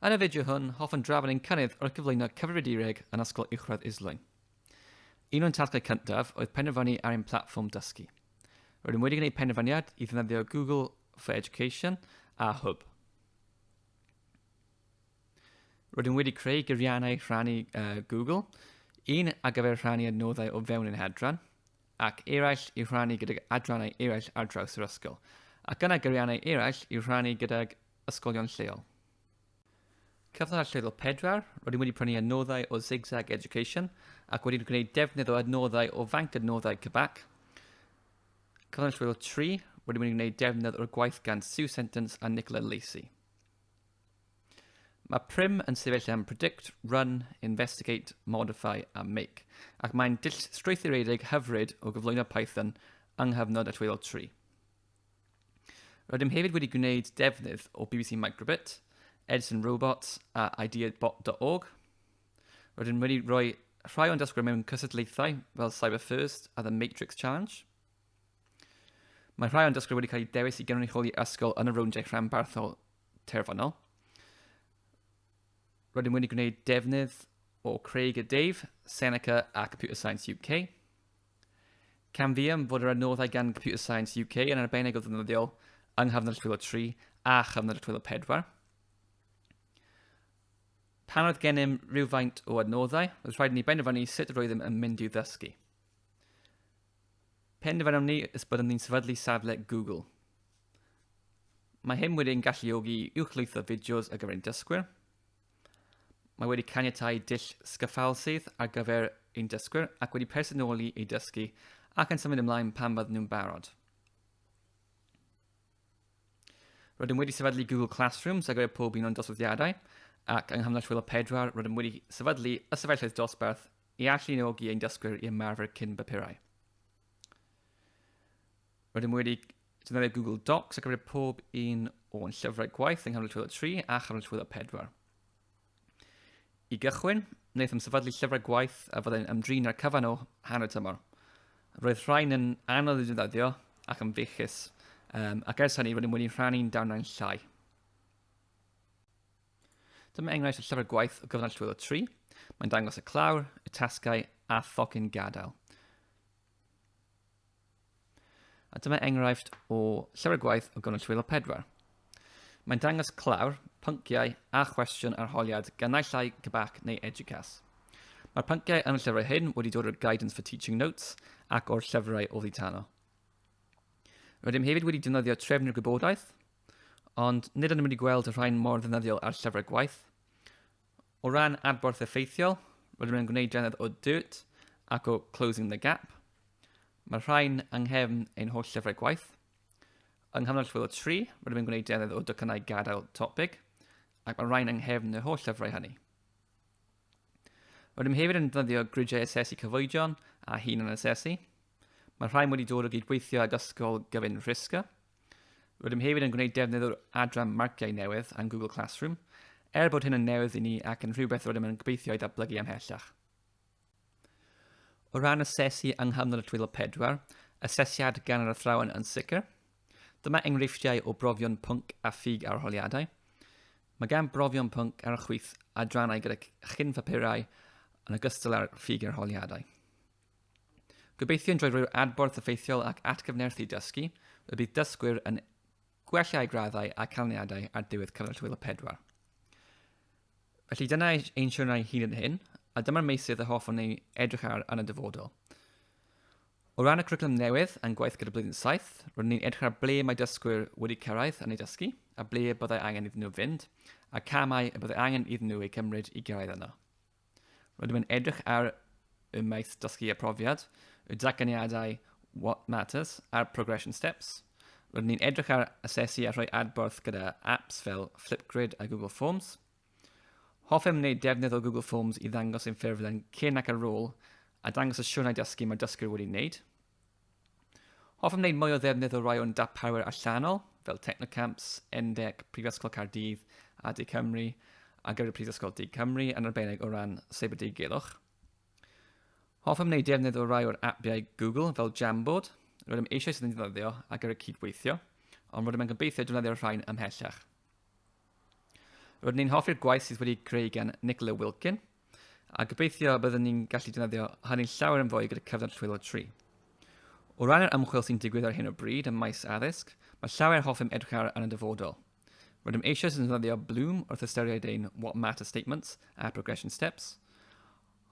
Yn y fideo hwn, hoffwn drafod ein cynnydd wrth gyflwyno cyfrifiadureg yn Ysgol Uwchradd Islwyn. Un o'n tasgau cyntaf oedd penderfynu ar ein platfform dysgu. Rydym wedi gwneud penderfyniad i ddefnyddio Google for Education a Hwb. Rydym wedi creu gyriannau rhannu uh, Google, un ar gyfer rhannu adnoddau o fewn ein hadran, ac eraill i rhannu gydag adrannau eraill ar draws yr ysgol, ac yna gyriannau eraill i rhannu gydag ysgolion lleol. Cyfnod allweddol 4, rydym wedi prynu adnoddau o Zigzag Education ac wedi gwneud defnydd o adnoddau o fanc adnoddau Cybac. Cyfnod allweddol 3, rydym wedi gwneud defnydd o'r gwaith gan Sue Sentence a Nicola Lacey. Mae prim yn sefyll am predict, run, investigate, modify a make, ac mae'n dull strwythuredig hyfryd o gyflwyno Python yng nghyfnod allweddol tri. Rydym hefyd wedi gwneud defnydd o BBC Microbit, Edison Robots a ideabot.org. Rydym wedi rhoi rhai o'n dysgwyr mewn cysylltiaethau fel Cyber First a The Matrix Challenge. Mae rhai o'n dysgwyr wedi cael eu dewis i gynrychioli ysgol yn y rowndiau rhanbarthol terfynol. Rydym wedi gwneud defnydd o Craig a Dave, Seneca a Computer Science UK. Camfiam fod yr adnoddau gan Computer Science UK yn arbennig o ddefnyddiol yng nghyfnod y 3 a chyfnod y 4. Pan oedd gennym rhywfaint o adnoddau, roedd rhaid ni benderfynu sut roeddem yn mynd i'w ddysgu. Penderfynom ni ys byddwn ni'n sefydlu safle Google. Mae hyn wedi'n galluogi i uwchlwytho fideos ar gyfer ein dysgwyr. Mae wedi caniatau dull sgyffalsydd ar gyfer ein dysgwyr ac wedi personoli ei dysgu ac yn symud ymlaen pan fydden nhw'n barod. Rydym wedi sefydlu Google Classrooms ar gyfer pob un o'n doswyddiadau ac yng Nghamlas Rhwyl o Pedwar rydym wedi sefydlu ystafelloedd dosbarth i alluogi ein dysgwyr i ymarfer cyn bapurau. Rydym wedi defnyddio Google Docs ar gyfer pob un o'n llyfrau gwaith yng nghanol llwyddo 3 a chanol llwyddo 4. I gychwyn, wnaethom sefydlu llyfrau gwaith a fyddai'n ymdrin â'r cyfan o hanner tymor. Roedd rhain yn anodd i ddefnyddio ac yn fechus, um, ac ers hynny rydym wedi rhannu'n darnau'n llai. Dyma enghraifft o llyfr gwaith o gyfnod llwyddo 3. Mae'n dangos y clawr, y tasgau a thocyn gadael. A dyma enghraifft o llyfr gwaith o Gynwyll Wylo Pedwar. Mae'n dangos clawr, pynciau a chwestiwn arholiad gan naill ai Cybac neu Educas. Mae'r pynciau yn y llyfrau hyn wedi dod o'r Guidance for Teaching Notes ac o'r llyfrau o dditano. Rydym hefyd wedi defnyddio trefnu'r gwybodaeth, ond nid ydym wedi gweld y rhain mor ddefnyddiol ar llyfrau gwaith. O ran adborth effeithiol, rydym yn gwneud dannedd o Dirt ac o Closing the Gap. Mae'r rhain yng nghefn ein holl llyfrau gwaith. Yng nghanol llwyth o tri, rydym yn gwneud dannedd o docynnau gadael topig, ac mae'r rhain yng nghefn yr holl llyfrau hynny. Rydym hefyd yn defnyddio gridiau asesu cyfoedion a hunan asesu. Mae'r rhain wedi dod o gydweithio ag Ysgol Gyfun Rhisga. Rydym hefyd yn gwneud defnydd o'r adran marciau newydd yn Google Classroom, er bod hyn yn newydd i ni ac yn rhywbeth rydym yn gobeithio i ddatblygu ymhellach. O ran asesu yng nghanol y twyllo pedwar, asesiad gan yr athrawon yn sicr. Dyma enghreifftiau o brofion pwnc a ffug arholiadau. Mae gan brofion pwnc ar y chwith adrannau gyda chyn-phapurau yn ogystal â'r ffug arholiadau. Gobeithiwn drwy roi'r adborth effeithiol ac atgyfnerthu dysgu, y bydd dysgwyr yn gwella eu graddau a canlyniadau ar diwedd cyfnod hwyl y pedwar. Felly dyna ein siwrnau hyd yn hyn, a dyma'r meysydd y hoffwn ei edrych ar yn y dyfodol. O ran y cwricwlwm newydd, yn gwaith gyda blwyddyn saith, roeddwn ni'n edrych ar ble mae dysgwyr wedi cyrraedd yn ei dysgu, a ble byddai angen iddyn nhw fynd, a camau y byddai angen iddyn nhw eu cymryd i gyrraedd yno. Rydym yn edrych ar y maes dysgu a profiad, y datganiadau What Matters a'r Progression Steps. Rydyn ni'n edrych ar asesu a rhoi adborth gyda apps fel Flipgrid a Google Forms. Hoffem wneud defnydd o Google Forms i ddangos ein ffurflen cyn ac ar ôl a dangos y siwrnau dysgu mae dysgwyr wedi wneud. Hoffem wneud mwy o ddefnydd o rai o'n darparwyr allanol, fel Technocamps, Endec, Prifysgol Caerdydd a De Cymru, a gyda'r Prifysgol De Cymru yn arbennig o ran Cyber Deigelwch. Hoffem wneud defnydd o rai o'r apiau Google fel Jamboard, rydym eisiau sydd yn ddefnyddio ac ar y cydweithio, ond rydym yn gobeithio defnyddio'r rhain ymhellach. Rydyn ni'n hoffi'r gwaith sydd wedi creu gan Nicola Wilkin, a gobeithio byddwn ni'n gallu defnyddio hynny'n llawer yn fwy gyda cyfnod rhwyl o tri. O ran yr ymchwil sy'n digwydd ar hyn o bryd ym maes addysg, mae llawer hoffem edrych ar yn y dyfodol. Rydym eisoes yn defnyddio Bloom wrth ystyried ein What Matters Statements a Progression Steps.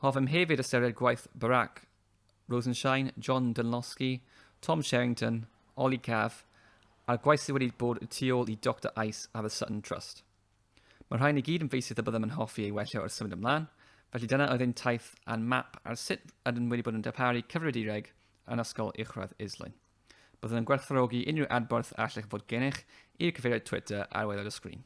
Hoffem hefyd ystyried gwaith Barak Rosenshine, John Dunlosky, Tom Sherrington, Ollie Cav, a'r gwaith sydd wedi bod y tu ôl i Doctor Ice a The Sutton Trust. Mae'r rhain i gyd yn feisydd y byddem yn hoffi ei wella wrth symud ymlaen, felly dyna oedd ein taith a'n map ar sut ydym wedi bod yn darparu cyfrifiadureg yn Ysgol Uwchradd Islwyn. Byddwn yn gwerthfawrogi unrhyw adborth a allech fod gennych i'r cyfeiriad Twitter ar waelod y sgrin.